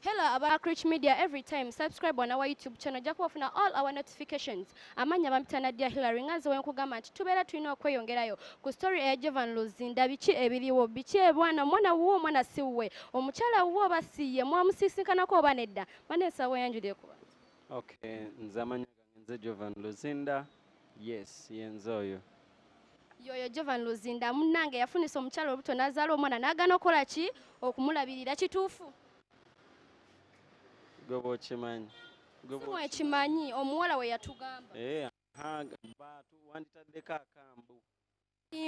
Hello aba Crich Media every time subscribe on our YouTube channel ojja kuba ofuna all our notifications amannya bampita Nadia Hillary nga nze wenkugamba nti tubeera tulina okweyongerayo ku story eya Jovan Luzinda biki ebiriwo biki ebwana omwana wuwo omwana si wuwe omukyala wuwo oba si ye mwamusisinkanako oba nedda maneesa weyanjulire kuba okay nze amanya nze jovan luzinda yes yenze oyo yoyo jovan luzinda munange yafunisa omukyala olubuto nazaala omwana nagana okukola ki okumulabirira kituufu gwe bwokimanyi ekimanyi omuwala weyatugamba eh, wanditaddeko akambu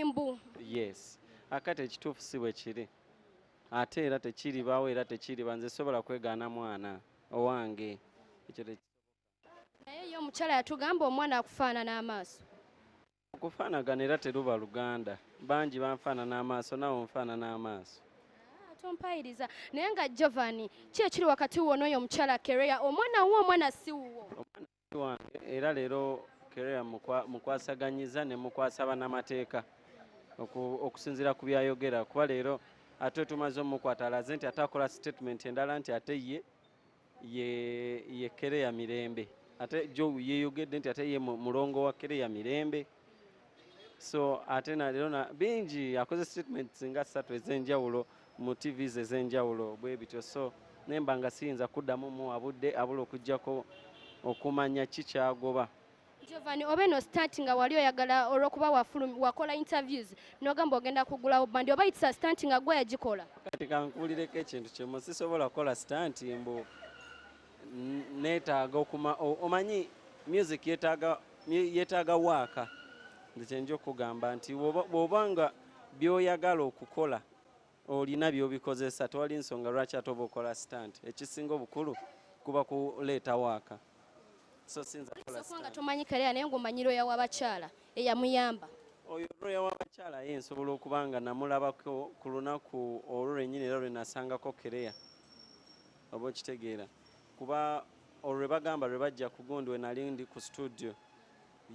mbu yes akati ekituufu si bwe kiri ate era tekiribawo era tekiriba nze sobola kwegaana mwana owange ekyo naye ye omukyala yatugamba omwana akufaanana amaaso okufaanagana era teruba luganda bangi banfaanana amaaso nawe onfaanana amaaso ah, tompayiriza naye nga jovani ki ekiri wakati wonooyo omukyala kereya omwana wuwo omwana si wuwo wange era leero kerea mukwasaganyiza ne mukwasa banamateeka okusinziira ku byayogera kuba leero ate tumaze omukwata alaze nti ate akola statement endala nti ate ye ye kerea mirembe ate jo yeyogedde nti ate ye mulongo wa kerea mirembe so ate nalero na bingi akoze statement nga ssatu ez'enjawulo mu tvs ez'enjawulo bwe bityo so naye mba nga siyinza kuddamu muwa budde abula okuggyako okumanya ki kyagoba Giovanni oba eno stunt nga wali oyagala olwokuba wakola interviews nogamba ogenda kugulawo bandi oba it's a stunt nga gwe yagikola kati kankuulireko ekintu kimu sisobola kukola stunt mbu neetaaga okuma omanyi music yetaaga yetaaga waaka nze kyenja okugamba nti bwoba nga byoyagala okukola olina byobikozesa tewali nsonga lwaki ate oba okola stant ekisinga obukulu kuba kuleeta waaka so sinza nga tomanyi kalea naye ngaomanyi lwoya wabakyala eyamuyamba oyo lwoya wabakyala ye nsobola okuba nga namulabako ku lunaku olwo lwenyini era lwenasangako kerea Oba okitegeera kuba olwo lwe bagamba lwe bajja ku gundi we nali ndi ku studio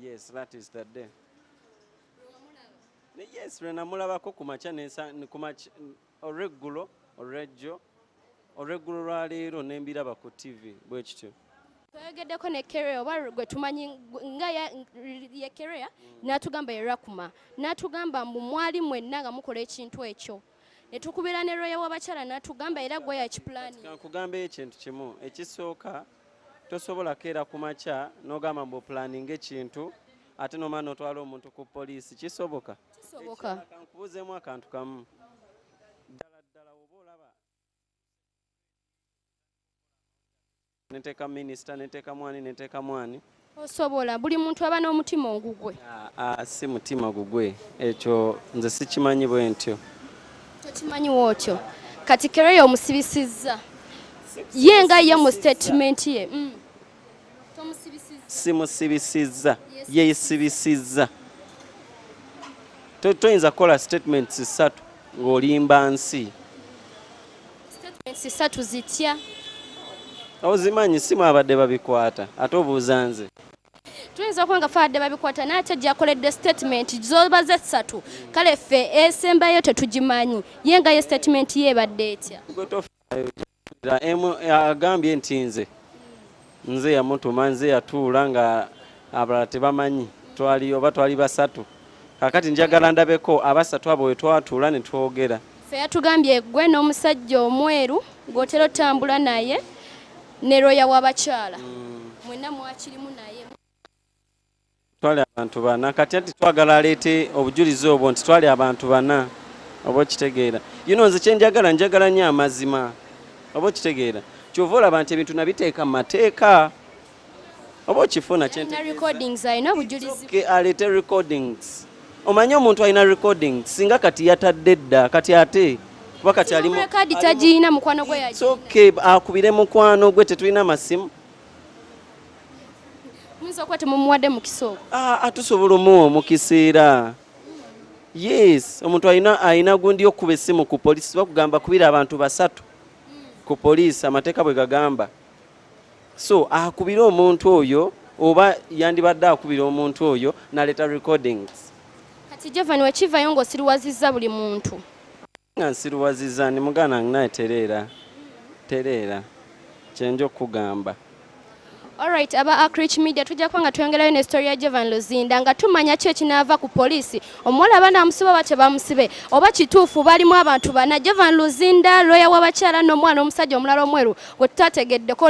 yes that is the day Ne- yes lwe namulabako ku makya nesa- n- ku makya- n- olweggulo olwejjo olweggulo lwa leero ne mbiraba ku tv bwe kityo twayogeddeko ne kerea oba gwe tumanyi gwe- nga ya- ye kerea n'atugamba ye rakuma n'atugamba mbu mwali mwenna nga mukola ekintu ekyo ne tukubira ne looya w'abakyala n'atugamba era gwe yakipulaninga. Kankugambeyo ekintu kimu ekisooka tosobola keera ku makya n'ogamba mbu opulaninga ekintu ate nomala notwala omuntu ku poliisi kisoboka kankubuuzeemu akantu kamu Nenteka minister, nenteka mwani, nenteka mwani. Osobola buli muntu aba n'omutima ogugwe. Ah, ah, si mutima gugwe ekyo nze sikimanyi bwe ntyo. Tokimanyi wotyo kati kero yo omusibisizza ye nga ye mu statement ye mm. simusibisizza yeyisibisizza toyinza kukola statements ssatu ng'olimba nsi satu zitya ozimanyi si mwabadde babikwata ate obuuza nze tuyinza okuba nga faadde babikwata naye ate gyakoledde statement zoba ze ssatu kale ffe esembayo tetugimanyi ye nga ye statement yebadde etya agambye nti nze nze yamutuma nze yatuula nga abalala tebamanyi twali oba twali basatu kakati njagala ndabeko abasatu abo wetwatuula netwogera fe yatugambye gwe n'omusajja omweru gwotera otambula naye ne looya w'abakyala mm. mwena mwakirimu naye twali abantu bana kati anti twagala aleete obujulizi obwo nti twali abantu bana oba okitegeera yuno nze kyenjagala njagala nyo amazima oba okitegeera kyova olaba nti ebintu nabiteeka mu mateeka oba okifuna aleete recordings omanyi omuntu alina recordings singa kati yatadde dda kati ate kuba kati alimu akubire mukwano gwe tetulina masimu muyinza okuba temumuwadde mukisa ogwo ah, ah, tusobola omuwa omukisa era yes omuntu alina alina gundi okuba essimu ku polisi bakugamba kubira abantu basatu ku polisi amateeka bwe gagamba so akubire omuntu oyo oba yandibadde akubira omuntu oyo naleeta recordings kati jevan wekivayo ngaosiriwazizza buli muntu nga nsiruwaziza ndi muganda wange naye tereera tereera kyenja okukugamba Alright, aba Akrich Media tujja kuba nga tweyongerayo ne story ya Jevan Luzinda nga tumanya ki ekinaava ku poliisi omuwala abaana amusiba oba tebamusibe oba kituufu balimu abantu bana Jevan Luzinda looya w'abakyala n'omwana omusajja omulala omweru gwe tutategeddeko